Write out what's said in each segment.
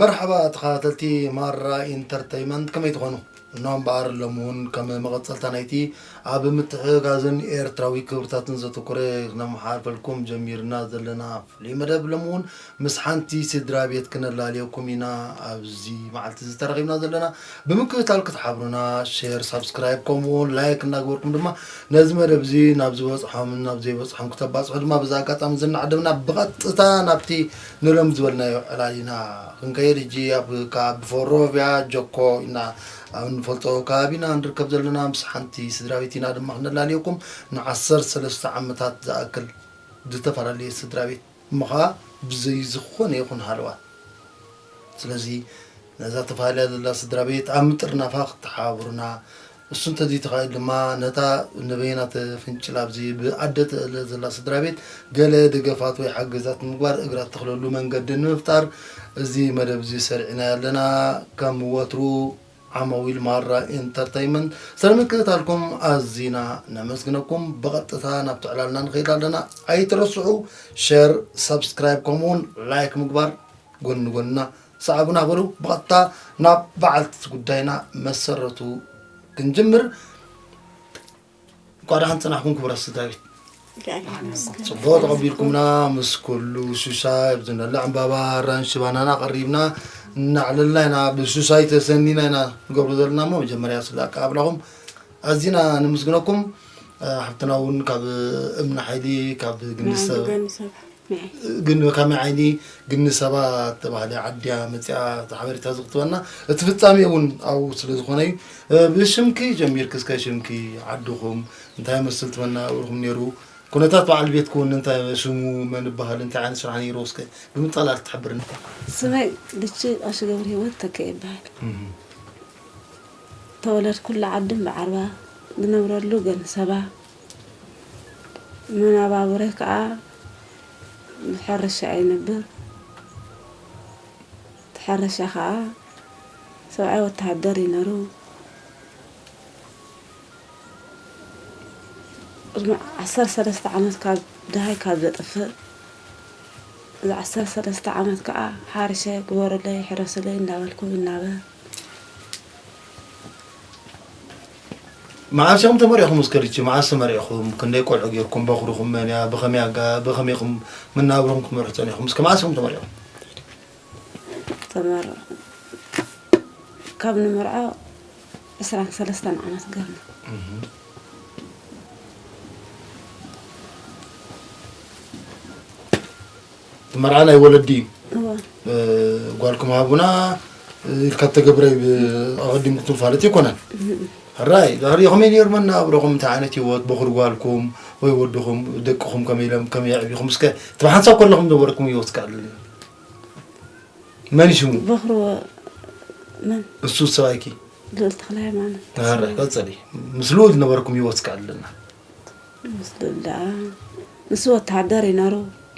መርሓባ ተኸታተልቲ ማራ ኢንተርተይመንት ከመይ ትኾኑ? እኖ እምበኣር ሎሚ እውን ከም መቐፀልታ ናይቲ ኣብ ምትሕግጋዝን ኤርትራዊ ክብርታትን ዘተኮረ ክነመሓላልፈልኩም ጀሚርና ዘለና ሎሚ መደብ ሎሚ እውን ምስ ሓንቲ ስድራ ቤት ክነላልየኩም ኢና ኣብዚ መዓልቲ እዚ ተራኺብና ዘለና ብምክትታል ክትሓብሩና ሼር ሳብስክራይብ ከምኡ እውን ላይክ እናግበርኩም ድማ ነዚ መደብ እዚ ናብ ዝበፅሖምን ናብ ዘይበፅሖም ክተባፅሑ ድማ በዚ ኣጋጣሚ እዚ እናዓደምና ብቐጥታ ናብቲ ንሎም ዝበልናዮ ዕላል ኢና ክንከይድ ሕጂ ኣብ ካብ ብፎሮቪያ ጆኮ ኢና ኣብ እንፈልጦ ከባቢ ኢና ንርከብ ዘለና ምስ ሓንቲ ስድራ ቤት ኢና ድማ ክነላልየኩም ንዓሰርተ ሰለስተ ዓመታት ዝኣክል ዝተፈላለየ ስድራቤት እሞ ከኣ ብዘይ ዝኾነ ይኹን ሃለዋት ስለዚ ነዛ ተፋልያ ዘላ ስድራቤት ኣብ ምጥርናፋ ክትሓባብሩና እሱ እንተዘይተኻኢሉ ድማ ነታ ነበየና ተፍንጭል ኣብዚ ብኣደ ተእለ ዘላ ስድራቤት ገለ ደገፋት ወይ ሓገዛት ንምግባር እግራ እተኽለሉ መንገዲ ንምፍጣር እዚ መደብ እዚ ሰሪዕናዮ ኣለና ከም ወትሩ ዓመዊል ማራ ኢንተርተይመንት ስለ ምክትታልኩም ኣዚና ነመስግነኩም። ብቐጥታ ናብቲ ዕላልና ንኸይድ ኣለና። ኣይትረስዑ ሸር፣ ሰብስክራይብ ከምኡውን ላይክ ምግባር ጎኒ ጎንና ሰዓቡና በሉ። ብቐጥታ ናብ በዓልቲ ጉዳይና መሰረቱ ክንጅምር እንኳ ደሓን ፅናሕኩም ክቡራት ስድራ ቤት ፅቡቅ ተቐቢልኩምና ምስ ኩሉ ሱሳይ ኣብ ዝነለ ዕምባባ ኣራንሽ ባናና ቀሪብና እናዕለልና ኢና ብሱሳይ ተሰኒና ኢና ንገብሮ ዘለና እሞ መጀመርያ ስለ ኣቀባብላኹም ኣዚና ንምስግነኩም ሓብትና እውን ካብ እምኒ ሓይሊ ካብ ግንሰብ ግን ብከመይ ዓይኒ ግን ሰባ ተባህለ ዓድያ መፅኣ እቲ ሓበሬታ እዚ ክትበና እቲ ፍፃሜኡ እውን ኣብኡ ስለ ዝኾነ እዩ ብሽምኪ ጀሚርክ እስከ ሽምኪ ዓድኹም እንታይ መስል ትመናብርኩም ነይሩ ኩነታት በዓል ቤትክ እውን እንታይ ሽሙ መን ይበሃል እንታይ ዓይነት ስራሕ ነይሩ እስከ ብምጣል ኣልክ ትሕብርኒ ስመይ ልቺ ቀሺ ገብረ ህይወት ተከ ይበሃል ተወለድኩሉ ዓዲ እምበዓርባ ዝነብረሉ ግን ሰባ መናባብረ ከኣ ብሕርሻ ይነብር። እቲ ሕርሻ ከኣ ሰብኣይ ወተሃደር እዩ ነሩ። ቅድሚ ዓሰርተ ሰለስተ ዓመት ካብ ደሃይ ካብ ዘጥፍእ እዚ ዓሰርተ ሰለስተ ዓመት ከኣ ሓርሸ ግበሩለይ ሕረሱለይ እንዳበልኩ ይናበር። መዓስ ኢኹም ተመሪዕኹም እስከ ልቺ መዓስ ተመሪዕኹም ክንደይ ቆልዑ ጌርኩም በኹርኹም መን እያ ብኸመይ ኣጋ ብኸመይ ኢኹም መናብርኹም ክትመርሑ ፀኒኹም እስከ መዓስ ኢኹም ተመሪዕኹም ተመር ካብ ንመርዓ ዕስራን ሰለስተን ዓመት ገርና እቲ መርዓ ናይ ወለዲ እዩ ጓልኩም ሃቡና ኢልካ ተገብረ ኣቐዲሙ ክትፋለጥ ይኮነን ሕራይ ዛሪ ከመይ ነይሩ መናብረኹም እንታይ ዓይነት ህይወት በኹሪ ጓልኩም ወይ ወድኹም ደቅኹም ከመይ ኢሎም ከመይ ኣዕቢኹም እስከ እቲ ብሓንሳብ ከለኹም ነበረኩም ህይወት እስከ ኣልኒ መን እዩ ሽሙ በኹሪ መን እሱ ሰብኣይኪ ልዑል ተክለ ሃይማኖት ቀፅሊ ምስ ልዑል ዝነበረኩም ህይወት እስከ ኣለና ምስ ዱላ ንሱ ወተሃደር እዩ ነሩ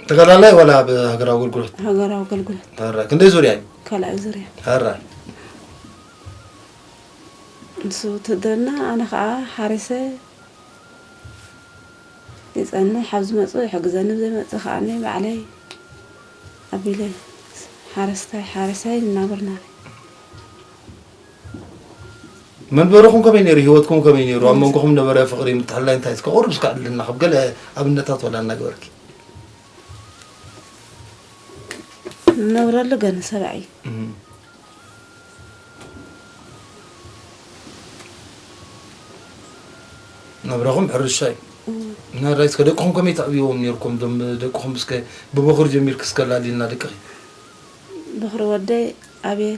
ተጋዳላይ ዋላ ኣብ ሃገራዊ ኣገልግሎት ሃገራዊ ኣገልግሎት ራ ክንደይ ዙርያ እዩ ካልኣይ ዙርያ ራ ንሱ ውትድርና ኣነ ከዓ ሓሪሰ ይፀንሕ ኣብ ዝመፁ ይሕግዘኒ ዘይመፅእ ከዓ ባዕለይ ኣቢለ ሓረስታይ ሓሪሰይ እናበርና መንበርኹም ከመይ ነይሩ ሂወትኩም ከመይ ነይሩ ኣብ መንጎኹም ነበረ ፍቕሪ ምትሕልላይ እንታይ እስከ ቁርብ እስከ ኣድልና ካብ ገለ ኣብነታት ወላ እናገበርኪ እነብረሉ ገለ ሰብኣይ ናብራኹም ሕርሻ እዩ ናራይ እስከ ደቅኹም ከመይ ተዕብዎም ነርኩም ዶም ደቅኹም እስከ ብበኹሪ ጀሚርክ እስከ ላሊልና ደቅኺ በኽሪ ወደይ ኣቤል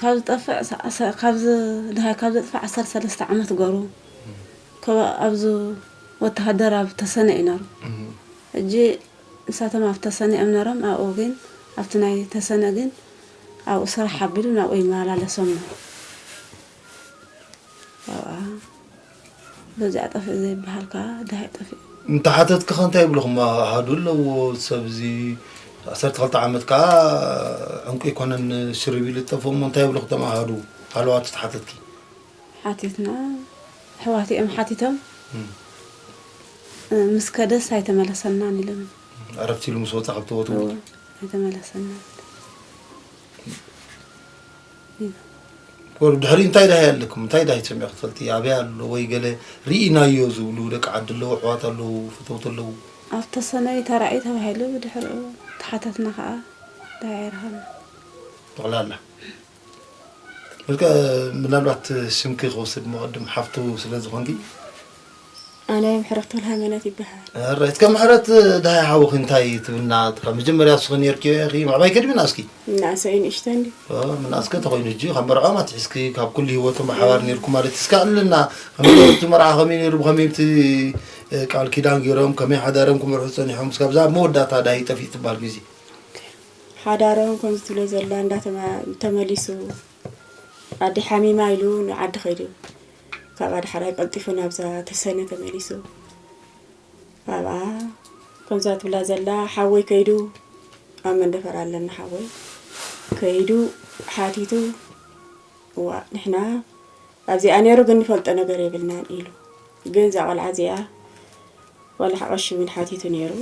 ካብ ዝጠፍዕ ካብ ዝድሃይ ካብ ዘጥፍዕ ዓሰርተ ሰለስተ ዓመት ገሩ ኣብዚ ወተሃደር ኣብ ተሰነ እዩ ነሩ ሕጂ ንሳቶም ኣብ ተሰነ እዮም ነሮም ኣብኡ ግን ኣብቲ ናይ ተሰነ ግን ኣብኡ ስራሕ ኣቢሉ ናብኡ ይመላለሶም ነሩ ኣብኣ በዚኣ ጠፍእ ዘይበሃል ከኣ ደሃይ ጠፊኡ። እንተሓተትኪኸ እንታይ ይብሉኹም ኣሃዱ ኣለዎ ሰብ እዚ ዓሰርተ ክልተ ዓመት ከኣ ዕንቁ ኣይኮነን ሽርብ ኢሉ ዝጠፍእ እሞ እንታይ ይብሉኹ እቶም ኣሃዱ ሃለዋቱ ተሓተትኪ? ሓቲትና ኣሕዋቱ እዮም ሓቲቶም ምስ ከደስ ኣይተመለሰናን ኢሎም ዕረፍቲ ኢሉ ምስ ወፀ ካብቲ ቦትኡ ኣይተመለሰናን ድሕሪ እንታይ ዳሃይ ኣለኩም እንታይ ዳሃይ ትሰምዑ ክትፈልጢ ኣበይ ኣሎ ወይ ገለ ርኢናዮ ዝብሉ ደቂ ዓዲ ኣለዉ ኣሕዋት ኣለዉ ፈተውቲ ኣለዉ ኣብቲ ሰነይ ተራእዩ ተባሂሉ ብድሕሪኡ ተሓተትና ከዓ ዳሃይ ኣይረኸብና ጠቕላላ ምናልባት ስምኪ ክወስድ መቐድም ሓፍቱ ስለ ዝኾንኪ ኣነ ምሕረት ተውልሃይመነት ይበሃል። እረ እስከ ምሕረት ድሃይ ሓውኺ እንታይ ትብልና ካብ መጀመርያ ንስኺ ነርኪዮ ኢኺ ምዕባይ ከድሚና እስኪ ምናእሰይ ንእሽተ እንዲ ምናእስከ ተኮይኑ ሕጂ ካብ መርዖም ኣትሒዝኪ ካብ ኩሉ ሂወቶም ብሓባር ነርኩም ማለት እስከ ኣለና ከመቲ መርዓ ከመይ ነይሩ ብከመይቲ ቃል ኪዳን ገይሮም ከመይ ሓዳሮም ክምርሑ ፀኒሖም እስካብዛ ኣብ መወዳእታ ዳሂ ጠፊእ ትበሃል ግዜ ሓዳሮም ከምዚ ትብሎ ዘላ እንዳተመሊሱ ኣዲ ሓሚማ ኢሉ ንዓዲ ከይዱ ካብ ኣድሓራይ ቀልጢፉ ናብዛ ተሰነ ተመሊሱ ኣብኣ ከምዛ ትብላ ዘላ ሓወይ ከይዱ ኣብ መንደፈር ኣለና ሓወይ ከይዱ ሓቲቱ እዋ ንሕና ኣብዚኣ ነይሩ ግን ንፈልጦ ነገር የብልናን ኢሉ ግን እዛ ቆልዓ እዚኣ ቆልዓ ቀሺ እውን ሓቲቱ ነይሩ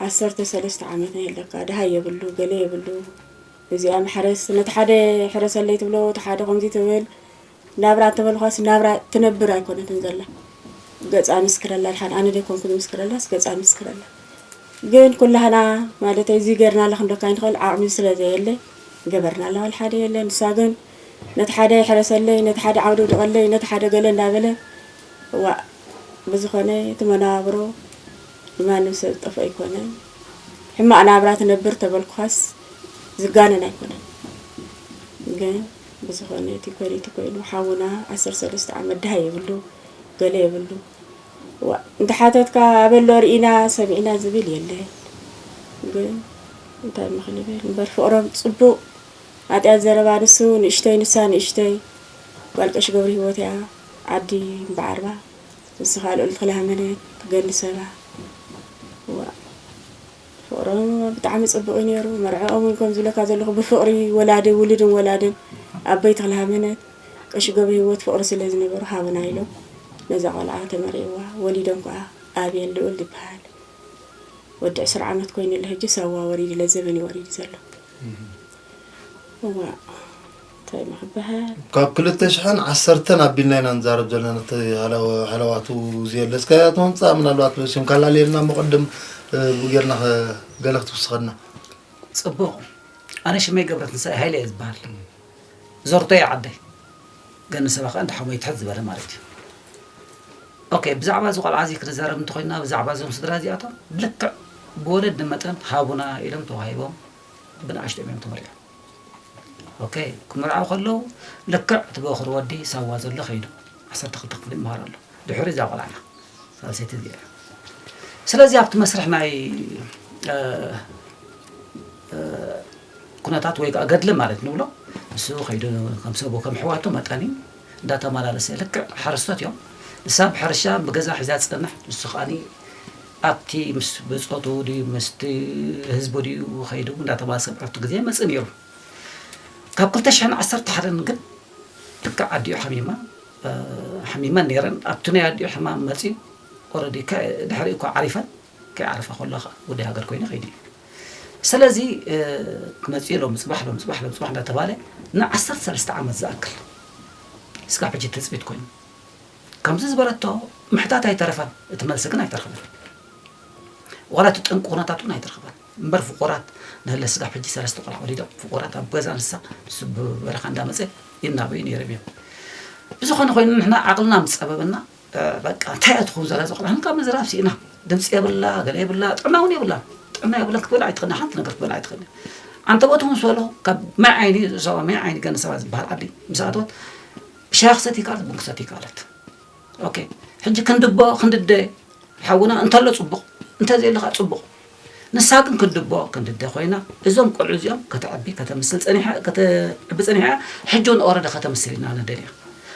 ዓሰርተ ሰለስተ ዓመት ናይ ኣለካ ደሃይ የብሉ ገለ የብሉ እዚኣ መሕረስ ነቲ ሓደ ሕረሰለይ ትብሎ እቲ ሓደ ከምዚ ትብል ናብራ እንተበልኳስ ናብራ ትነብር ኣይኮነትን ዘላ ገጻ ምስክረላ ድሓን ኣነ ደይኮንኩ ዝምስክረላስ ገጻ ምስክረላ ግን ኩላህና ማለት እዚ ገርና ኣለክ እንዶካ ይንክእል ዓቕሚ ስለ ዘየለ ገበርና ኣለዋል ሓደ የለ ንሳ ግን ነቲ ሓደ ይሕረሰለይ ነቲ ሓደ ዓውደ ውድቐለይ ነቲ ሓደ ገለ እንዳበለ ዋ ብዝኾነ እቲ መነባብሮ ንማንም ሰብ ዝጠፍኦ ኣይኮነን። ሕማቕ ናብራ ትነብር ተበልኩኻስ ዝጋነን ኣይኮነን። ግን ብዝኾነ እቲ ኮይኑ እቲ ኮይኑ ሓውና ዓሰርተ ሰለስተ ዓመት ድሃይ የብሉ ገለ የብሉ ዋእ እንተሓተትካ ኣበሎ ርኢና ሰሚዕና ዝብል የለን። ግን እንታይ እሞ ክንብል እምበር ፍቕሮም ጽቡቕ ኣጢኣት ዘረባ ንሱ ንእሽተይ ንሳ ንእሽተይ ጓል ቀሽ ገብሪ ህይወት እያ ዓዲ እምበዓርባ ንስኻ ልኡልቲ ክላህ መሬት ትገሊ ሰባ ዋእ ፍቅሮም ብጣዕሚ ጽቡቅ እዩ ነይሩ መርዕኦም እውን ከም ዝብለካ ዘለኹ ብፍቅሪ ወላዲ ውሉድን ወላድን ኣበይቲ ክላህ መነት ቀሺ ገብረ ህይወት ፍቅሪ ስለ ዝነበሩ ሃቡና ኢሎም ነዛ ቆልዓ ተመርዕዋ ወሊዶም ከዓ ኣቤል ልኡል ዝበሃል ወዲ ዕስራ ዓመት ኮይኑ ኣሎ ሕጂ ሳዋ ወሪዱ ለዘበን እዩ ወሪዱ ዘሎ እዋ ታይ ምሕባሀል። ካብ ክልተ ሽሕን ዓሰርተን ኣቢልና ኢና ንዛረብ ዘለና እቲ ሃለዋቱ ዘየለስካያ ተወንፃ ምናልባት ስም ካላለየልና እሞ ቅድም ብጌርና ገለ ክትውስኸና ፅቡቕ ኣነ ሽመይ ገብረትንሳኤ ሃይለ እየ ዝበሃል ዞርቶ እየ ዓደይ ገኒ ሰባ ከዓ እንተ ሓወይ ትሕት ዝበለ ማለት እዩ ኦኬ ብዛዕባ እዚ ቆልዓ እዚ ክንዛረብ እንተኮይንና ብዛዕባ እዞም ስድራ እዚኣቶም ብልክዕ ብወለዲ መጠን ሃቡና ኢሎም ተዋሂቦም ብንኣሽቶ እዮም ተመሪዖም ኦከ ክምርዓው ከለው ልክዕ እቲ በኹሪ ወዲ ሳዋ ዘሎ ከይዱ ዓሰርተ ክልተ ክፍሊ ይምሃር ኣሎ ድሕሪ እዛ ቆልዓና ሳልሰይቲ እዚኣ እያ ስለዚ ኣብቲ መስርሕ ናይ ኩነታት ወይ ገድሊ ማለት ንብሎ ንሱ ከይዱ ከም ሰቡ ከም ሕዋቱ መጠን እዩ እንዳተማላለሰ ልክዕ ሓረስቶት እዮም ንሳ ብሕርሻ ብገዛ ሒዛ ትጸንሕ ንሱ ከኣኒ ኣብቲ ምስ ብጾቱ ድዩ ምስቲ ህዝቡ ድዩ ከይዱ እንዳተማሰ ዕርፍቲ ግዜ መጽእ ነይሩ ካብ 211 ግን ልክዕ ኣዲኡ ሓሚማ ሓሚመን ነይረን ኣብቲ ናይ ኣዲኡ ሕማም መጽዩ ኦረዲ ድሕሪ እኳ ዓሪፈን ከይዓረፈ ከሎ ከኣ ወዲ ሃገር ኮይኑ ከይዱ እዩ። ሰለዚ መጺኡ ሎሚ ጽባሕ ሎሚ ጽባሕ ሎሚ ጽባሕ እንዳተባለ ን ዓሰርተ ሰለስተ ዓመት ዝኣክል እስካብ ሕጂ ትጽቢት ኮይኑ ከምዚ ዝበለቶ ምሕታት ኣይተረፈን እቲ መልሲ ግን ኣይተረኸበን ዋላ እቲ ጠንቂ ኩነታት እውን ኣይተረኸበን እምበር ፍቁራት ንህለ ስጋብ ሕጂ ሰለስተ ቆልዓ ወሊዶም ፍቁራት ኣብ ገዛ ንሳ ንሱ ብበረኻ እንዳመፀ ይናበዩ ነይሮም እዮም ብዝኾነ ኮይኑ ንሕና ዓቕልና ምስ ፀበበና በቃ እንታይ እያ ትኸውን ዛላ እዚቆልዓ ኢልካ ምዝራብ ሲኢና ድምፂ የብላ ገለ የብላ ጥዕና እውን የብላን ጥዕና የብላን ክትበላ ኣይትኽእልን ሓንቲ ነገር ክትበላ ኣይትኽእልን ኣንተወት እውን ሰሎ ካብ ማይ ዓይኒ ዞባ ማይ ዓይኒ ገነ ሰባት ዝበሃል ዓዲ ምስ ኣተወት ሻክ ሰት ይካለት ቡን ክሰት ይካለት ኦኬ ሕጂ ክንድቦ ክንድደ ሓውና እንተሎ ፅቡቕ እንተዘየለካ ፅቡቕ ንሳ ግን ክንድቦ ክንድደ ኮይና እዞም ቆልዑ እዚኦም ከተዕቢ ከተምስል ጸኒሓ ከተዕቢ ጸኒሓ እያ ሕጂ እውን ኦረደ ከተምስል ኢና ንደልያ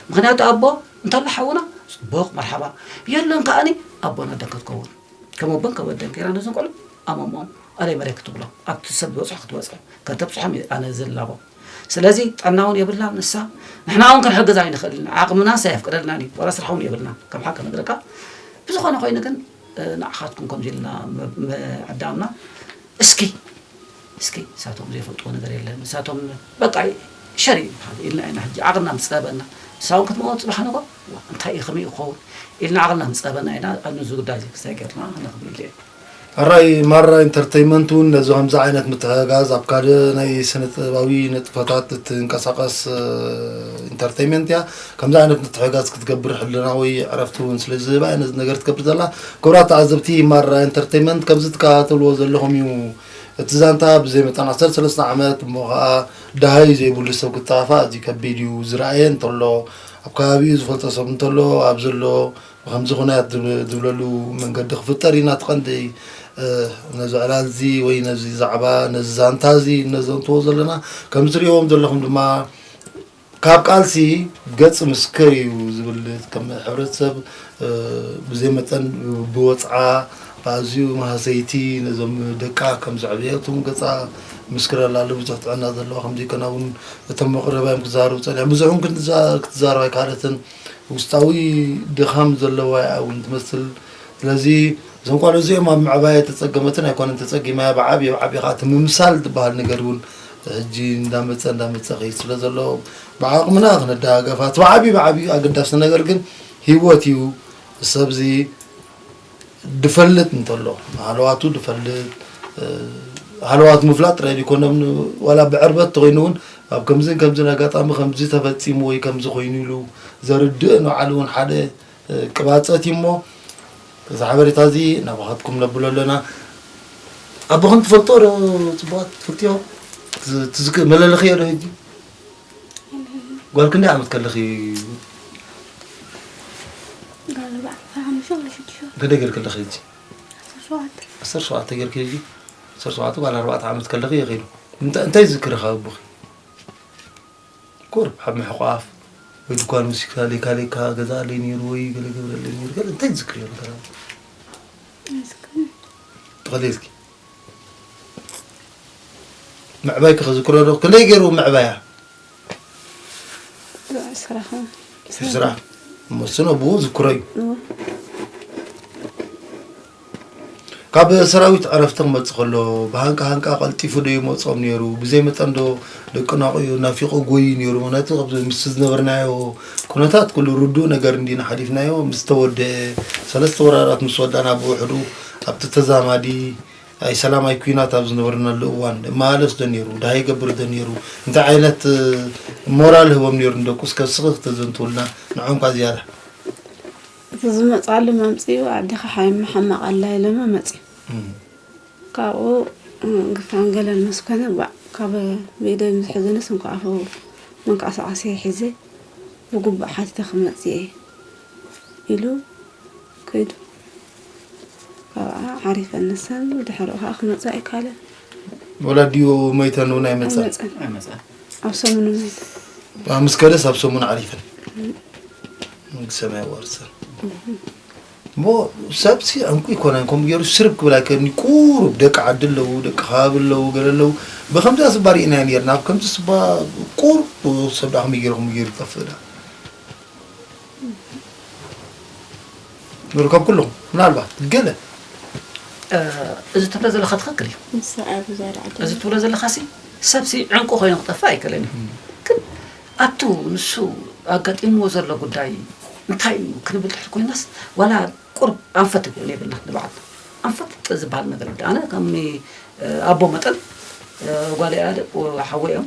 ምክንያቱ ኣቦ እንተሎ ሓውና ጽቡቅ መርሓባ የሎን ከኣኒ ኣቦን ኣደን ክትከውን ከም ኣቦን ከም ኣደን ገይራ ነዞም ቆልዑ ኣመሞም ኣለይ መሬት ክትብሎ ኣብቲ ሰብ ዝበፅሖ ክትበፅሖ ከተብፅሖም እዩ ኣነ ዝላቦ ስለዚ ጥዕና እውን የብላን ንሳ ንሕና እውን ክንሕግዛ ኣይንኽእልን ዓቕምናስ ኣየፍቅደልናን እዩ ዋላ ስራሕ እውን የብልናን ከም ሓቂ ነግረካ ብዝኾነ ኮይኑ ግን ንዓኻትኩም ከምዚ ኢልና ምዕዳምና እስኪ እስኪ ንሳቶም ዘይፈልጥዎ ነገር የለን ንሳቶም በቃ ሸር እዩ ዝበሃል ኢልና ኢና ሕጂ ዓቕልና ምጸበና ንሳውን ክትመቕኦ ጽባሕ ንጎ እንታይ እዩ ከመይ ክኸውን ኢልና ዓቕልና ምጸበና ኢና ኣብዚ ጉዳይ እዚ ክስታይ ገርና ነኽብር ኢለ እየ ሕራይ ማራ ኢንተርተይመንት እውን ነዚ ከምዚ ዓይነት ምትሕጋዝ ኣብ ካልእ ናይ ስነ ጥበባዊ ንጥፈታት እትንቀሳቐስ ኢንተርተይመንት እያ ከምዚ ዓይነት ምትሕጋዝ ክትገብር ሕልናዊ ዕረፍቲ እውን ስለ ዝህባ እያ ነዚ ነገር ትገብር ዘላ። ክቡራት ተዓዘብቲ ማራ ኢንተርተይመንት ከምዚ ትከታተልዎ ዘለኹም እዩ እቲ ዛንታ ብዘይ መጠን ዓሰርተ ሰለስተ ዓመት እሞ ከኣ ደሃዩ ዘይብሉ ሰብ ክጠፋፋእ ኣዝዩ ከቢድ እዩ ዝረኣየ እንተሎ ኣብ ከባቢኡ ዝፈልጦ ሰብ እንተሎ ኣብ ዘሎ ብከምዚ ኩናያት ዝብለሉ መንገዲ ክፍጠር እዩ ናቲ ቀንዲ ነዚ ዕላል እዚ ወይ ነዚ ዛዕባ ነዚ ዛንታ እዚ እነዘንትዎ ዘለና ከምዚ ትርእዎም ዘለኹም ድማ ካብ ቃልሲ ገጽ ምስክር እዩ ዝብል ከም ሕብረተሰብ ብዘይ መጠን ብወጽዓ ኣዝዩ ማህሰይቲ ነዞም ደቃ ከም ዘዕብየቱም ገጻ ምስክር ኣላሉ ብዙሕ ጥዕና ዘለዎ ከም ዘይኮና እውን እቶም መቕረባዮም ክዛረቡ ጸኒሖም ብዙሕ ክትዛረብ ኣይካለትን ውስጣዊ ድኻም ዘለዋ እያ እውን ትመስል ስለዚ እዞም ቋልዑ እዚኦም ኣብ ምዕባያ ተጸገመትን ኣይኮነን ተጸጊማያ ብዓብየ ብዓብየ ከዓ እቲ ምምሳል ዝበሃል ነገር እውን ሕጂ እንዳመፀ እንዳመፀ ከይድ ስለ ዘሎ ብዓቕምና ክንደጋገፋ እቲ ብዓብዩ ብዓብዩ ኣገዳሲ ነገር ግን ሂወት እዩ ሰብዚ ድፈልጥ እንተሎ ሃለዋቱ ድፈልጥ ሃለዋት ምፍላጥ ጥራይ ዘይኮነም ዋላ ብዕርበት ተኮይኑ እውን ኣብ ከምዝን ከምዝን ኣጋጣሚ ከምዚ ተፈፂሙ ወይ ከምዚ ኮይኑ ኢሉ ዘርድእ ንባዕሉ እውን ሓደ ቅባጸት እዩ እሞ እዚ ሓበሬታ እዚ ናባኻትኩም ነብሎ ኣለና ኣቦኽን ትፈልጦ ዶ ፅቡቓት ትፈልጥዮ ትዝክ መለለኽዮ ዶ ሕጂ ጓል ክንደይ ዓመት ከለኺ ክንደይ ገይር ከለኺ ሕጂ ዓሰርተ ሸውዓተ ገይርኪ ሕጂ ዓሰርተ ሸውዓተ ጓል ኣርባዕተ ዓመት ከለኺ እዩ ከይዱ እንታይ ዝክርኻ ኣቦኺ ቁሩብ ኣብ ምሕቋፍ ወይ ድኳን ወሲድካ ለይካ ለይካ ገዝኣለይ ነይሩ ወይ ገለ ገብረለይ ነይሩ ገለ እንታይ ትዝክርዮ ነገር ኣሎ? ተኸሊልኪ ምዕባይኪ ክዝክሮ ዶ ክንደይ ገይሩ ምዕባያ ስራሕ እሞ እሱን ኣቡኡ ዝክሮ እዩ ካብ ሰራዊት ዕረፍቲ ክመጽእ ከሎ ብሃንቃ ሃንቃ ቀልጢፉ ዶ ይመጾም ነይሩ ብዘይ መጠን ዶ ደቂ ናቑኡ ናፊቑ ጎዩ ነይሩ ምክንያቱ ካብዚ ምስ ዝነበርናዮ ኩነታት ኩሉ ርዱእ ነገር እንዲና ሓሊፍናዮ ምስ ተወደአ ሰለስተ ወራራት ምስ ወዳእና ብውሕዱ ኣብቲ ተዛማዲ ኣይ ሰላማይ ኩናት ኣብ ዝነበርናሉ እዋን እመላለስ ዶ ነይሩ ድሃ ይገብር ዶ ነይሩ እንታይ ዓይነት ሞራል ህቦም ነይሩ ንደቁ እስከ ስኺ ክተዘንትውልና ንዖም ኳ ዝያዳ እቲ ዝመፅኣሉ መምፅኢኡ ኣዴኻ ሓይሚ ሕማቕ ኣላ ኢሎሞ መፅዩ ካብኡ ግፋን ገለን ምስ ኮነ ባእ ካብ ብኢደይ ምስ ሕዙንስ እንኳ ኣፉ መንቀሳቐሲየ ሒዘ ብግቡእ ሓቲተ ክመፅእ እየ ኢሉ ከይዱ ካብኣ ዓሪፈን ንሰን ድሕሪኡ ከዓ ክመፅእ ኣይከኣለን ወላዲኡ ሞይተን እውን ኣይመፀን ኣይመፅን ኣብ ሰሙኑ ምስ ከደስ ኣብ ሰሙን ዓሪፈን መንግስቲ ሰማይ ኣዋርሰን እሞ ሰብሲ ዕንቁ ይኮነን ከምኡ ገይሩ ስርብ ክብል ኣይከኒ ቁሩብ ደቂ ዓዲ ኣለዉ ደቂ ከባቢ ኣለዉ ገለ ኣለዉ ብከምዚኣ ስባ ርኢና ነርና ኣብ ከምዚ ስባ ቁሩብ ሰብ ዳ ከመይ ገይሩ ከምኡ ገይሩ ይጠፍእ ዳ ንርከብ ኩሉኹም ምናልባት ገለ እዚ ትብሎ ዘለካ ትክክል እዩ እዚ ትብሎ ዘለካ ሲ ሰብሲ ዕንቁ ኮይኑ ክጠፍእ ኣይክእልን እዩ ግን ኣብቱ ንሱ ኣጋጢምዎ ዘሎ ጉዳይ እንታይ እዩ ክንብል ትሕት ኮይናስ ዋላ ቁርብ ኣንፈት ይኮን የብልና ንባዕልና ኣንፈት ዝበሃል ነገር ኣነ ከም ኣቦ መጠን ጓል ሓወ እዮም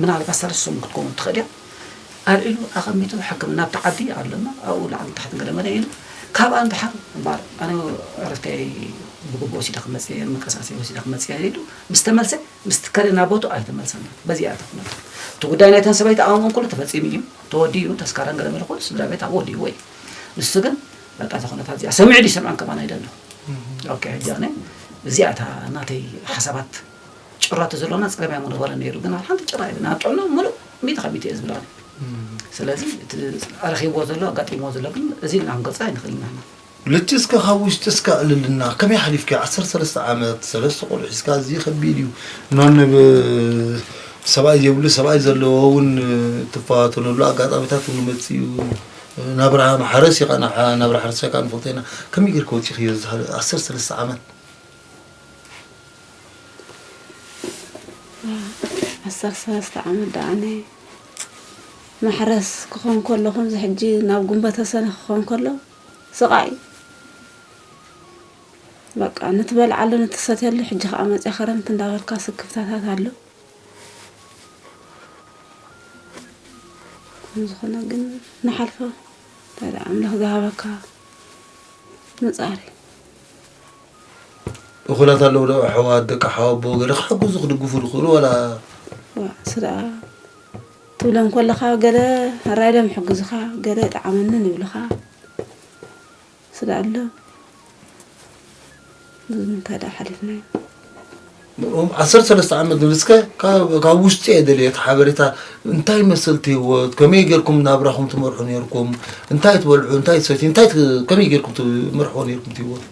ምናልባት ሳልስቲ ሰሙን ክትከውን ትኽእል እያ ኣል ኢሉ ኣቐሚጡ ሕክምና ኣብቲ ዓዲ ኣለና ኣብኡ ላዕልን ታሕትን ገለመለ ኢሉ ካብኣ ንደሓር እምበር ኣነ ዕረፍተይ ብግቡእ ወሲደ ክመፅእ እየ ምንቅስቃሰይ ወሲደ ክመፅእ እየ ኢሉ ምስ ተመልሰ ምስ ትከለ ናብ ቦትኡ ኣይተመልሰን እዩ በዚ እያ እታ ኩነታ እቲ ጉዳይ ናይተን ሰበይቲ ኣእምኦም ኩሉ ተፈፂሙ እዩ ተወዲኡ ተስካራን ገለመለ ኩሉ ስድራ ቤት ኣብኡ ወዲእዎ እዩ ንሱ ግን በቃ እዛ ኩነታት እዚኣ ሰሚዑ ድዩ ሰምዐን ከማን ኣይደለኹ ኦኬ ሕጂ ኣነ እዚኣ እታ ናተይ ሓሳባት ጭራ ተዘሎና ጸገም እያ ምበለ ነይሩ ግን ኣብ ሓንቲ ጭራ የብልና ኣብ ጥዕና ምሉእ ሚእቲ ካብ ሚእቲ እየ ዝብል ኣነ ስለዚ እቲ ረኺብዎ ዘሎ ኣጋጢምዎ ዘሎ ግን እዚ ኢልና ክንገልጾ ኣይንኽእልን ንሕና ልቲ እስከ ካብ ውሽጢ እስከ ዕልልና ከመይ ሓሊፍክዮ ዓሰርተ ሰለስተ ዓመት ሰለስተ ቆልዑ ሒዝካ ኣዝዩ ከቢድ እዩ ኖን ብ ሰብኣይ ዘይብሉ ሰብኣይ ዘለዎ እውን ትፈታተነሉ ኣጋጣሚታት እውን ይመጽእ እዩ ናብራ ማሕረስ እዩ ኸኣ ናብ ናብራ ሕርሻ ከኣ ንፈልጦ ኢና ከመይ ጌርካ ወጺእክዮ እዚ ዓሰርተ ሰለስተ ዓመት ዓሰርተ ሰለስተ ዓመት ደኣ ኣነ ማሕረስ ክኾን ከሎ ከምዚ ሕጂ ናብ ጉንበተ ሰነ ክኾን ከሎ ስቓይ በቃ ንትበልዓሉ ንትሰትየሉ ሕጂ ከዓ መፅያ ክረምቲ እንዳበልካ ስክፍታታት ኣሎ ዝኾነ ግን ንሓልፎ ኣምላኽ ዝሃበካ ምፃር እዩ እኹላት ኣለዉ ዶ ኣሕዋት ደቂ ሓወቦ ገለ ክሕግዙ ክድግፉ ዝኽእሉ ዋላ ስድራ ትብሎም ከለኻ ገለ ሕራይ ኢሎም ይሕግዙኻ ገለ ይጠዓመንን ይብልኻ ስለ ኣሎ ብዙ እንታይ ደኣ ሓሊፍናዮ ንኦም ዓሰርተ ሰለስተ ዓመት ንብጽከ ካብ ካብ ውሽጢ እየ ደልየ እቲ ሓበሬታ እንታይ ይመስል እቲ ህይወት ከመይ ጌርኩም ናብራኹም ትመርሑ ነይርኩም እንታይ ትበልዑ እንታይ ትሰትዩ እንታይ ት- ከመይ ጌርኩም ትመርሕዎ ነይርኩም እቲ ህይወት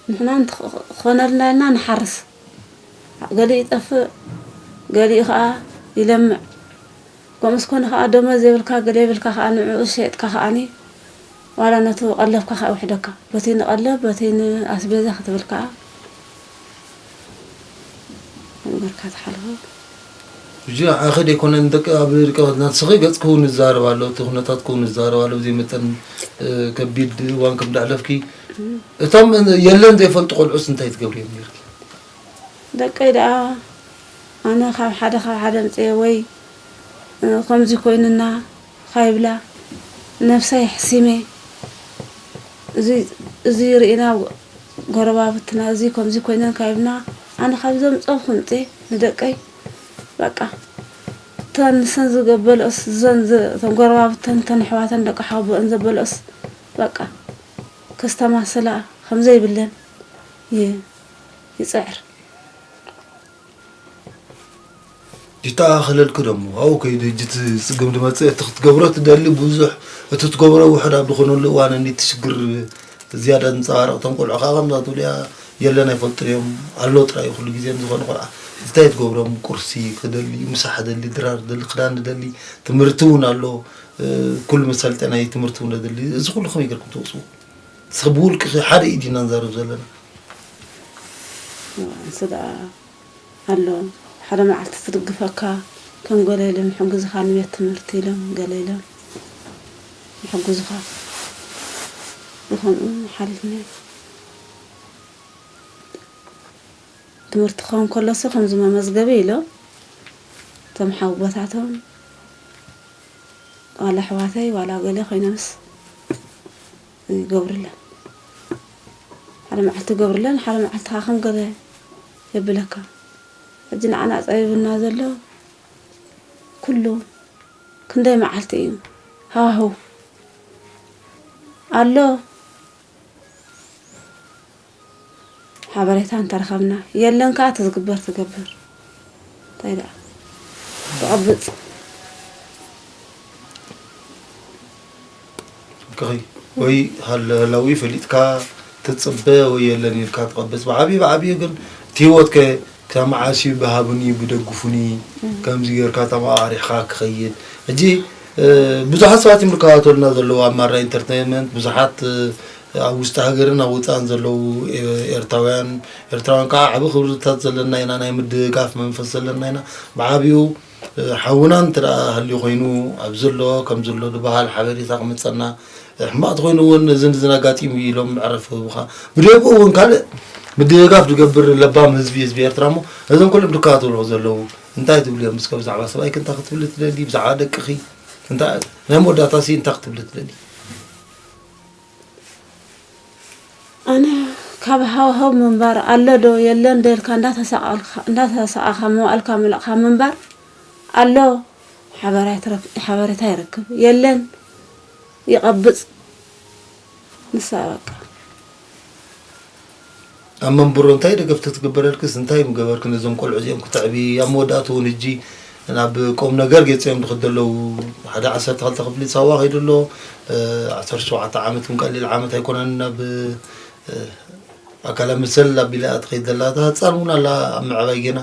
ንሕና እንተኾነልና ኢልና ንሓርስ ገሊኡ ይጠፍእ ገሊኡ ከዓ ይለምዕ ከምኡስ ኮነ ከዓ ደሞዝ የብልካ ገለ የብልካ ከዓ ንዕኡ ሸይጥካ ከዓኒ ዋላ ነቲ ቀለብካ ከኣ ይውሕደካ። በቲ ንቀለብ በቲ ንኣስቤዛ ክትብል ከኣ መንበርካ ትሓልፎ። ሕጂ ንዓኺ ደይኮነ ንደቂ ኣብ ርቀበት ናትስኺ ገጽ ክውን ይዛረብ ኣሎ እቲ ኩነታት ክውን ይዛረብ ኣሎ ብዘይ መጠን ከቢድ እዋን ከም ደሕለፍኪ እቶም የለን ዘይፈልጡ ቆልዑስ እንታይ ትገብርዮም ኔርኪ? ደቀይ ደኣ ኣነ ካብ ሓደ ካብ ሓደ ኣምጺኤ ወይ ከምዚ ኮይንና ኻይብላ ነብሰይ ኣሕሲመ እዙይ እዙይ ሪእና ጎረባብትና እዙይ ከምዙይ ኮይነን ካይብና ኣነ ካብዞም ፀብ ክምፀ ንደቀይ በቃ እተን ንሰን ዝገበልኦስ እዘን እተን ጎረባብተን እተን ኣሕዋተን ደቂ ሓወቦአን ዘበልኦስ በቃ ከስተማስላ ከምዘይብለን ይፅዕር ይተኣኻኸለልኪ ዶ እሞ ኣብኡ ከይዱ ሕጂ እቲ ጽግም ዝመጽእ እቲ ክትገብሮ ትደሊ ብዙሕ እቲ ትገብሮ ውሑድ ኣብ ዝኾነሉ እዋን እኒ እቲ ሽግር ዝያዳ ዝንጸባረቕ እቶም ቆልዑ ከዓ ከምዛ ትብልያ የለን ኣይፈልጡን እዮም ኣሎ ጥራይ እዩ ኩሉ ግዜ ንዝኾነ ቆልዓ እንታይ ትገብሮም ቁርሲ ክደሊ ምሳሕ ደሊ ድራር ደሊ ክዳን ደሊ ትምህርቲ እውን ኣሎ ኩሉ መሳለጥያ ናይ ትምህርቲ እውን ደሊ እዚ ኩሉ ከመይ ጌርኩም ትወጽኡ እስኺ ብውልቅኺ ሓደ ኢድ ኢና ንዛረብ ዘለና ስጋ ኣሎ ሓደ መዓልቲ ትድግፈካ ከም ገለ ኢሎም ይሕግዙኻ ንቤት ትምህርቲ ኢሎም ገለ ኢሎም ይሕግዙኻ ብከምኡ ሓሊፍና ትምህርቲ ክኸውን ከሎሲ ከምዚ መመዝገቢ ኢሎም እቶም ሓውቦታቶም ዋላ ኣሕዋተይ ዋላ ገለ ኮይነንስ ይገብርለን ሓደ መዓልቲ ይገብርለን ሓደ መዓልቲ ከዓ ከም ገለ የብለካ ሕጂ ንዓና ፀቢብና ዘሎ ኩሉ ክንደይ መዓልቲ እዩ ሃዋህው ኣሎ ሓበሬታ እንተረኸብና የለን ከዓ ትዝግበር ትገብር እንታይ ደኣ ትቐብፅ ወይ ሃለላዊ ፈሊጥካ ትፅበ ወይ የለን ኢልካ ትቐብፅ ብዓብዩ ብዓብዩ ግን እቲ ህይወት ከ ካብ መዓስ እዩ ብሃብኒ ብደግፉኒ ከምዚ ጌርካ ተመቃሪሕካ ክኸይድ ሕጂ ብዙሓት ሰባት እዮም ዝከታተሉና ዘለዉ ኣብ ማራ ኢንተርቴንመንት ብዙሓት ኣብ ውሽጢ ሃገርን ኣብ ወጻእን ዘለዉ ኤርትራውያን ኤርትራውያን ከኣ ዓቢ ክብርታት ዘለና ኢና፣ ናይ ምድግጋፍ መንፈስ ዘለና ኢና፣ ብዓቢኡ ሓውና እንተ ሃልዩ ኮይኑ ኣብዚ ኣሎ ከምዚ ኣሎ ድበሃል ሓበሬታ ክመጸና ሕማቅ ተኮይኑ እውን እዚ ንዝን ኣጋጢሙ እዩ ኢሎም መዕረፊ ክህቡካ ብደግኡ እውን ካልእ ምድግጋፍ ዝገብር ለባም ህዝቢ ህዝቢ ኤርትራ እሞ እዞም ኩሎም ድከታተልዎ ዘለዉ እንታይ ትብሉ እዮም እስከ ብዛዕባ ሰብኣይክ እንታይ ክትብሊ ትደሊ ብዛዕባ ደቅኺ እንታይ ናይ መወዳእታሲ እንታይ ክትብሊ ትደሊ ኣነ ካብ ሃዋህው ምንባር ኣሎ ዶ የለ እንደ ኢልካ እንዳተሰኣኻ መዋእልካ ምልእኻ ምንባር ኣሎ ሓበሬታ ይረክብ የለን ይቐብፅ ንሳ በቃ ኣብ መንብሮ እንታይ ደገፍ ተትግበረልክስ እንታይ ምገበርክ ነዞም ቆልዑ እዚኦም ክተዕቢ ኣብ መወዳእቱ እውን እጂ ናብ ቆም ነገር ገፂኦም ድክ ዘለዉ ሓደ ዓሰርተ ክልተ ክፍሊ ሳዋ ከይዱ ኣሎ ዓሰርተ ሸውዓተ ዓመት እውን ቀሊል ዓመት ኣይኮነን ናብ ኣካላ መሰል ኣቢላ ትኸይድ ዘላ እታ ህፃን እውን ኣላ ኣብ ምዕባይ ጌና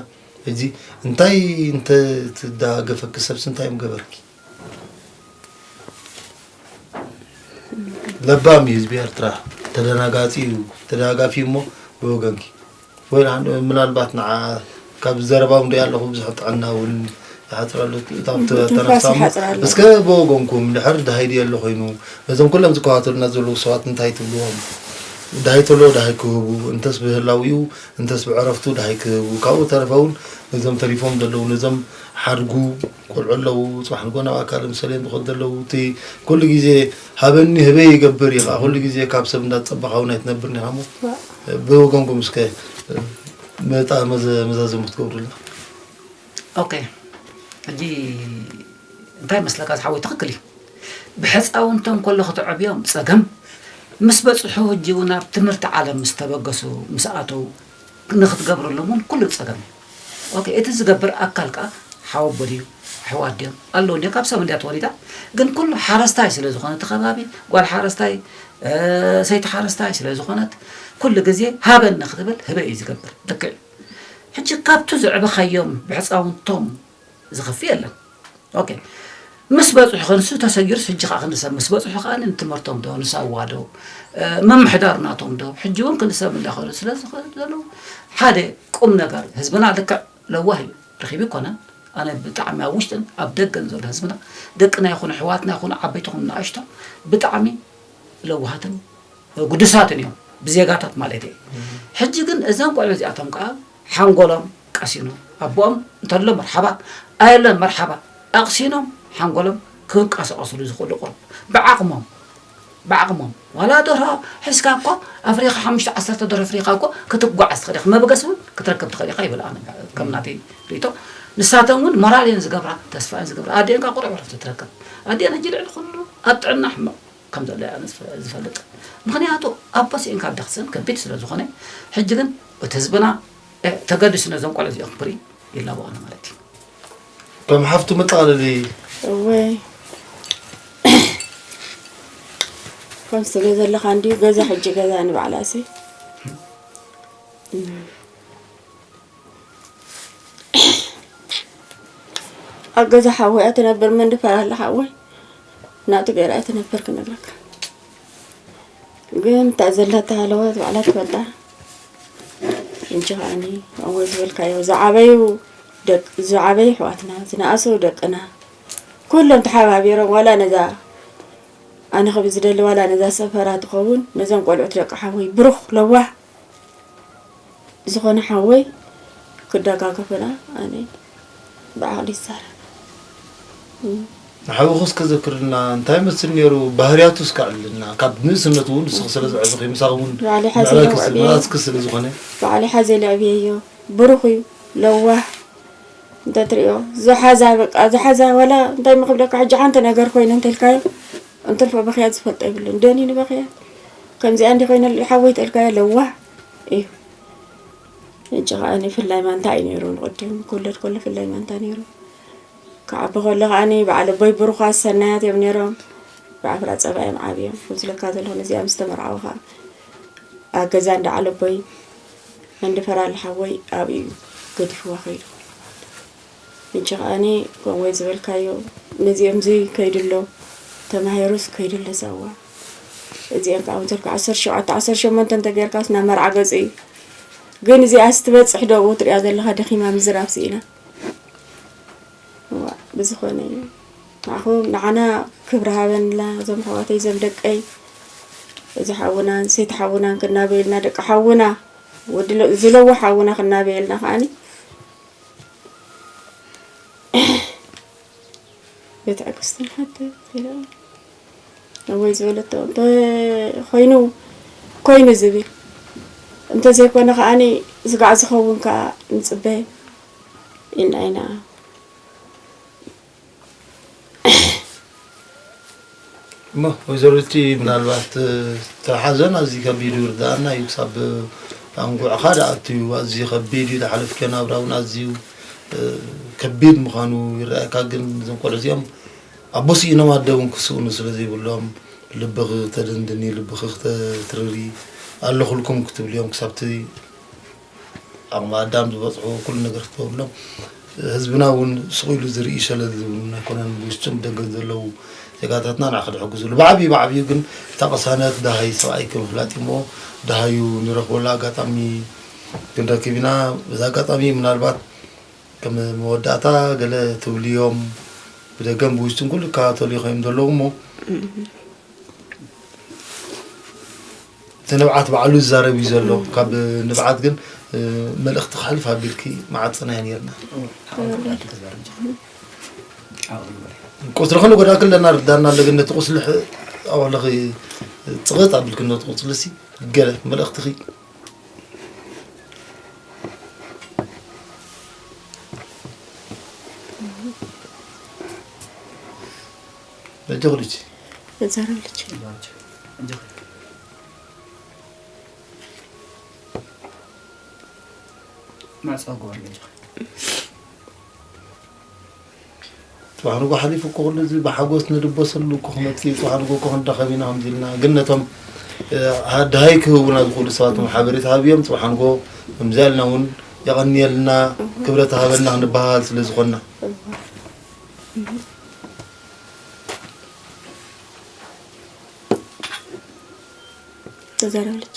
እዚ እንታይ እንተትዳገፈኪ ሰብሲ እንታይ ምገበርኪ ለባም እዩ ህዝቢ ኤርትራ ተደናጋፂ እዩ ተደጋጋፊ እሞ ብወገንኪ ወይ ምናልባት ንዓ ካብ ዘረባም ሪኣ ኣለኹ ብዙሕ ጥዕና እውን ይሓፅረሉ ተነሳ እስከ ብወገንኩም ድሕር ድሃይ ድየ ኣሎ ኮይኑ ነዞም ኩሎም ዝከታተሉና ዘለዉ ሰባት እንታይ ትብልዎም ድሃይ ተሎ ድሃይ ክህቡ እንተስ ብህላዊኡ እንተስ ብዕረፍቱ ድሃይ ክህቡ ካብኡ ተረፈ እውን ነዞም ተሪፎም ዘለዉ ነዞም ሓድጉ ቆልዑ ኣለዉ ፅባሕ ንግሆ ናብኣ ካልእ ምስ ሰለየን ዝኸዱ ኣለዉ እቲ ኩሉ ግዜ ሃበኒ ህበይ ይገብር እዩ ከዓ ኩሉ ግዜ ካብ ሰብ እንዳተፀበኻ እውን ኣይትነብርን ኢኻ እሞ ብወገንኩም እስከ መጣ መዛዘሚ ክትገብሩልና ኦኬ ሕጂ እንታይ መስለካ ዝሓወይ ትኽክል እዩ ብሕፃውንቶም ከሎ ክትዕብዮም ፀገም ምስ በፅሑ ህጂ እውን ኣብ ትምህርቲ ዓለም ምስ ተበገሱ ምስ ኣተው ንክትገብረሎም እውን ኩሉ ፀገም እዩ ኦኬ እቲ ዝገብር ኣካል ከኣ ሓወቦ ድዩ ኣሕዋት ድዮም ኣለዉ እንድዮም ካብ ሰብ እንድያ ተወሊዳ ግን ኩሉ ሓረስታይ ስለ ዝኾነ እቲ ከባቢ ጓል ሓረስታይ ሰይቲ ሓረስታይ ስለ ዝኾነት ኩሉ ግዜ ሃበኒ ክትብል ህበ እዩ ዝገብር ልክዕ ሕጂ ካብቱ ዘዕበኻዮም ብሕፃውንቶም ዝኸፍእ የለን ኦኬ ምስ በጽሑ ክንሱ ተሰጊሩስ ሕጂ ከዓ ክንሰብ ምስ በጽሑ ከዓ ንትምህርቶም ዶ ንሳዋ ዶ ምምሕዳር ናቶም ዶ ሕጂ እውን ክንሰብ እንዳኸሉ ስለ ዝኸዘሉ ሓደ ቁም ነገር ህዝብና ልክዕ ለዋህ እዩ ርኺብ ይኮነን ኣነ ብጣዕሚ ኣብ ውሽጥን ኣብ ደገን ዘሎ ህዝብና ደቅና ይኹኑ ኣሕዋትና ይኹኑ ዓበይትኹም ንኣሽቶ ብጣዕሚ ለዋሃትን ግዱሳትን እዮም ብዜጋታት ማለት እዩ ሕጂ ግን እዘን ቆልዑ እዚኣቶም ከዓ ሓንጎሎም ቀሲኖም ኣቦኦም እንተሎ መርሓባ ኣየሎን መርሓባ ኣቕሲኖም ሓንጎሎም ክንቀሳቐስሉ ዝኽእሉ ቁሩብ ብዓቕሞም ብዓቕሞም ዋላ ደርሆ ሒዝካ እኮ ኣፍሪኻ ሓሙሽተ ዓሰርተ ደርሆ ኣፍሪኻ እኮ ክትጓዓዝ ትኽእል ኢኻ መበገሲ እውን ክትረክብ ትኽእል ኢኻ ይብል ኣነ ከም ናተይ ርእቶ ንሳተን እውን ሞራል እየን ዝገብራ ተስፋ እየን ዝገብራ ኣዴንካ ቁሩብ ዕረፍቲ ትረክብ ኣዴን ሕጂ ልዕሊ ኩሉ ኣብ ጥዕና ሕማቕ ከም ዘሎ እያ ዝፈልጥ ምክንያቱ ኣቦ ሲኢንካ ኣደ ክትስእን ከቢድ ስለ ዝኮነ ሕጂ ግን እቲ ህዝብና ተገዲሱ ነዞም ቆልዑ እዚኦም ክብሪ ይላበኦ ኣሎ ማለት እዩ ከም ሓፍቱ መጠቃለሊ እወይ ከም ስለ ዘለካ እንዲዩ ገዛ ሕጂ ገዛ ንባዕላሲ ኣብ ገዛ ሓወያ ትነብር መን ድፈራለ ሓወይ ናቱ ገይራ ትነብር ክነግረካ ግን እታ ዘለታ ሃለዋት ባዕላ ትፈልጣ እንጂ ከዓኒ ኣወ ዝበልካዮ ዝዓበዩ ደቂ ዝዓበዩ ኣሕዋትና ዝነኣሱ ደቅና ኩሎም ተሓባቢሮም ዋላ ነዛ ኣነ ከብ ዝደሊ ዋላ ነዛ ሰፈራ ትኸውን ነዞም ቆልዑት ደቂ ሓወይ ብሩኽ ለዋህ ዝኾነ ሓወይ ክደጋገፈና ኣሜን ብዓቕሊ ይዛረብ ንሓውኹ እስከ ዘክርልና እንታይ መስል ነይሩ ባህርያቱ እስከ ኣዕልልና ካብ ንእስነቱ እውን ንስኺ ስለ ዘዕብኺ ምሳኹ እውን ባዕሊ ሓዘ ምዕባይ ክስል ለዕብየ መራስኪ ስለ ዝኾነ ባዕሊ ሓዘ ለዕብየዮ ብሩኽ እዩ ለዋህ እንተ ትሪኦ ዝሓዛ በቃ ዝሓዛ ዋላ እንታይ ምክብለካ ሕጂ ሓንቲ ነገር ኮይኑ እንተልካዮ እንትርፎ በኽያት ዝፈልጦ የብሉን ደኒ ንበኽያት ከምዚኣ እንዲ ኮይነ ሓወይ ተልካዮ ለዋህ እዩ እጂ ከዓ ፍላይ ማንታ እዩ ነይሩ ንቅድም ክውለድ ከሎ ፍላይ ማንታ ነይሩ ክዓቢ ከሎ ከዓ በዓል ኣቦይ ብሩኻት ሰናያት እዮም ነይሮም ብዓፍራ ፀባ እዮም ዓብዮም ከምዝለካ ዘለኹ ነዚኣ ምስ ተመርዓው ከዓ ኣብ ገዛ እንዳ ዓለቦይ እንድፈራል ሓወይ ኣብኡ እዩ ገዲፍዋ ከይዱ ሕጂ ከኣኒ ከምኡ ዝበልካዮ ነዚኦምዚ ከይድሎ ተማሂሩስ ከይድሎ ሳዋ እዚኦም ከዓ ወትርካ ዓሰርተ ሸውዓተ ዓሰርተ ሸሞንተ እንተጌርካስ ናብ መርዓ ገጹ እዩ ግን እዚኣስ ትበጽሕ ዶ ኣብኡ ትሪኣ ዘለኻ ደኺማ ምዝራብ ስኢና እዋ ብዝኾነ እዩ ንዓኹ ንዓና ክብሪ ሃበንላ እዞም ኣሕዋተይ እዞም ደቀይ እዚ ሓውናን ሰይቲ ሓውናን ክናበየልና ደቂ ሓውና ወዲ ዝለዋ ሓውና ክናበየልና ከዓኒ ቤት ኣግስትን ሓተ ኢለ ኣቦይ ዝበለቶ እንተኮይኑ ኮይኑ ዝብል እንተዘይኮነ ከዓኒ ስጋዕ ዝኸውን ከዓ ንፅበ ኢልና ኢና እሞ ወይዘሮ ልቲ ምናልባት እቲ ሓዘን ኣዝዩ ከቢድ እዩ ርዳእና እዩ ክሳብ ኣንጉዕኻ ደኣቱ እዩ ኣዝዩ ከቢድ እዩ ዝሓለፍከ ናብራ እውን ኣዝዩ ከቢድ ምዃኑ ይረኣየካ ግን እዞም ቆልዑ እዚኦም ኣቦ ስኢኖም ኣደ እውን ክስእኑ ስለ ዘይብሎም ልብኺ ተደንድኒ ልብኺ ክተትርሪ ኣለኹልኩም ክትብልዮም ክሳብቲ ዓቕሚ ኣዳም ዝበፅሑ ኩሉ ነገር ክትገብርሎም ህዝብና እውን ስቕ ኢሉ ዝርኢ ሸለል ዝብሉ ኣይኮነን ብውሽጥን ብደገን ዘለዉ ዜጋታትና ንዓኸ ድሕግዝሉ ብዓብዩ ብዓብዩ ግን እታ ቅሳነት ድሃይ ሰብኣይ ከምፍላጥ እሞ ድሃዩ ንረኽበሉ ኣጋጣሚ ክንረክብ ኢና በዚ ኣጋጣሚ ምናልባት ከም መወዳእታ ገለ ትብልዮም ብደገን ብውሽጥን ኩሉ ይከታተሉ ይኸም ዘለዉ እሞ እቲ ንብዓት ባዕሉ ዝዛረብ እዩ ዘሎ ካብ ንብዓት ግን መልእኽቲ ክሕልፍ ኣቢልኪ መዓፅናዮ ነርና ቁስሊ ከሉ ጎዳ ክለና ርዳና ኣለግን ነቲ ቁስሊ ኣዋለኺ ፅቕጥ ኣቢልኪ ነቲ ቁስሊ ሲ ገለ መልእኽትኺ እጆኽ ልጅ እዛረብ ልጅ ማዕፀጓር ልጅ ፅባሕ ንጎ ሓሊፉ እኮ ኩሉ እዚ ብሓጎስ ንድበሰሉ እኮ ክመፅእ እዩ ፅባሕ ንጎ እኮ ክንራኸብ ኢና ከምዚ ኢልና ግን ነቶም ድሃይ ክህቡና ዝኽእሉ ሰባት ሓበሬታ ሃብዮም ፅባሕ ንጎ ከምዚ ኢልና እውን የቐንየልና ክብረት ሃበና ክንበሃል ስለ ዝኾንና ተዛረብልች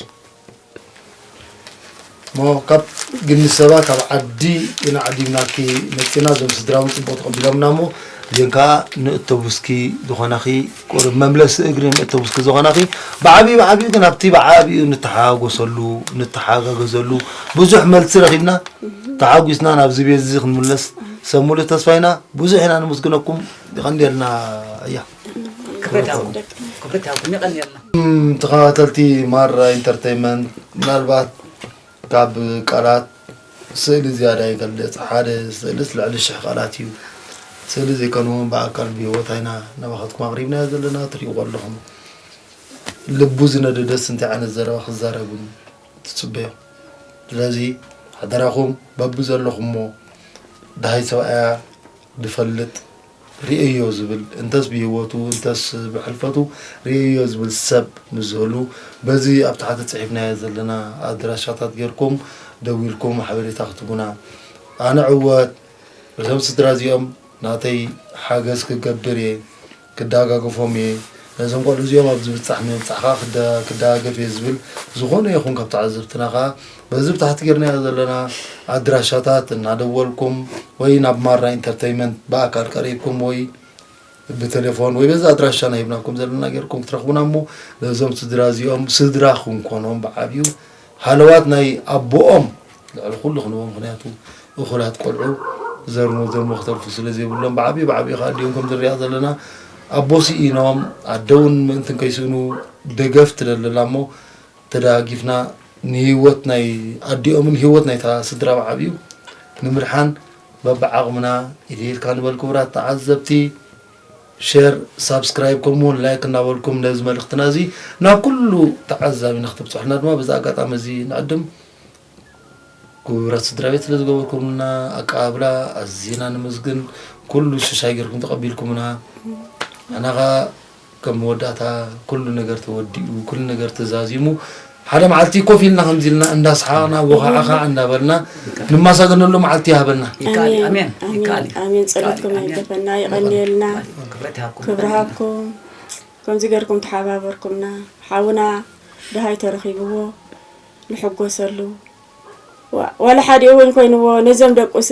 እሞ ካብ ግኒ ሰባ ካብ ዓዲ ኢና ዓዲምናኪ መፂና እዞም ስድራ እውን ፅቡቅ ተቐቢሎምና እሞ እዚን ከዓ ንእተቡስኪ ዝኾናኺ ቁርብ መምለሲ እግሪ ንእተቡስኪ ዝኾናኺ ብዓብዩ ብዓብዩ ግን ኣብቲ ብዓብዩ ንተሓጋጎሰሉ ንተሓጋገዘሉ ብዙሕ መልሲ ረኺብና ተሓጒስና ናብዚ ቤት እዚ ክንምለስ ሰብ ሙሉ ተስፋ ኢና ብዙሕ ኢና ንምስግነኩም ይቀንየልና እያ ተኸታተልቲ ማራ ኢንተርቴንመንት ምናልባት ካብ ቃላት ስእሊ ዝያዳ ይገልፅ ሓደ ስእልስ ልዕሊ ሽሕ ቃላት እዩ ስእሊ ዘይኮነ እውን ብኣካል ብሂወት ኣይና ናባኻትኩም ኣቕሪብናዮ ዘለና ትሪእዎ ኣለኹም ልቡ ዝነደደስ እንታይ ዓይነት ዘረባ ክዛረብን ትጽበዮ ስለዚ ሓደራኹም በብዘለኹሞ ደሃይ ሰብኣያ ድፈልጥ ርእየዮ ዝብል እንተስ ብሂወቱ እንተስ ብሕልፈቱ ርእየዮ ዝብል ሰብ ምስ ዝህሉ በዚ ኣብ ታሕቲ ጽሒፍናዮ ዘለና ኣድራሻታት ጌርኩም ደዊልኩም ሓበሬታ ክትቡና ኣነ ዕወት በዞም ስድራ እዚኦም ናተይ ሓገዝ ክገብር እየ ክደጋገፎም እየ ነዞም ቆልዑ እዚኦም ኣብዚ ብጻሕ ንምብጻሕ ከኣ ክደጋገፍ እየ ዝብል ዝኾነ ይኹን ካብ ተዓዘብትና ከኣ በዚ ብታሕቲ ጌርናዮ ዘለና ኣድራሻታት እናደወልኩም ወይ ናብ ማራ ኢንተርተይመንት ብኣካል ቀሪብኩም ወይ ብቴሌፎን ወይ በዚ ኣድራሻና ሂብናኩም ዘለና ጌርኩም ክትረኽቡና እሞ ነዞም ስድራ እዚኦም ስድራ ክንኮኖም ብዓብዩ ሃለዋት ናይ ኣቦኦም ልዕሊ ኩሉ ክንቦ ምክንያቱ እኹላት ቆልዑ ዘር ንዘርሞ ክተርፉ ስለ ዘይብሎም ብዓብዪ ብዓብዪ ከዓ ኣዲኦም ከምዚ ንሪኣ ዘለና ኣቦ ስኢኖም ኣደ እውን ምእንቲ ከይስእኑ ደገፍ ትደለላ እሞ ተደጋጊፍና ንሂወት ናይ ኣዲኦምን ሂወት ናይታ ስድራ ብዓብዩ ንምድሓን በብዓቕምና ኢድ ኢድካ ንበል ክቡራት ተዓዘብቲ ሼር ሳብስክራይብ ከምኡ ውን ላይክ እናበልኩም ነዚ መልእኽትና እዚ ናብ ኩሉ ተዓዛቢ ንክትብፅሑልና ድማ በዚ ኣጋጣሚ እዚ ንዕድም ክቡራት ስድራ ቤት ስለ ዝገበርኩምና ኣቀባብላ ኣዝና ንምስግን ኩሉ ሽሻይ ጌርኩም ተቐቢልኩምና ኣናኻ ከም መወዳእታ ኩሉ ነገር ተወዲኡ ኩሉ ነገር ተዛዚሙ ሓደ መዓልቲ ኮፍ ኢልና ከምዚ ኢልና እንዳ ሰሓቅና ቦኻዕኻ እንዳ በልና ንማሳገነሉ መዓልቲ ይሃበና። ይከኣል እዩ ኣሜን ኣሜን ይከኣል እዩ ኣሜን ይከኣል ጸሎትኩም እዩ ኣሜን ኣይገፈና ይኹን የቐንየልና ይኹን ክብረት ይሃብኩም ክብሪ ኣሜን ሃብኩም ከምዚ ገርኩም ተሓባበርኩምና ሓውና ድሃይ ተረኺብዎ ንሕጎሰሉ ዋ- ዋላ ሓዲኡ እውን ኮይንዎ ነዞም ደቁሲ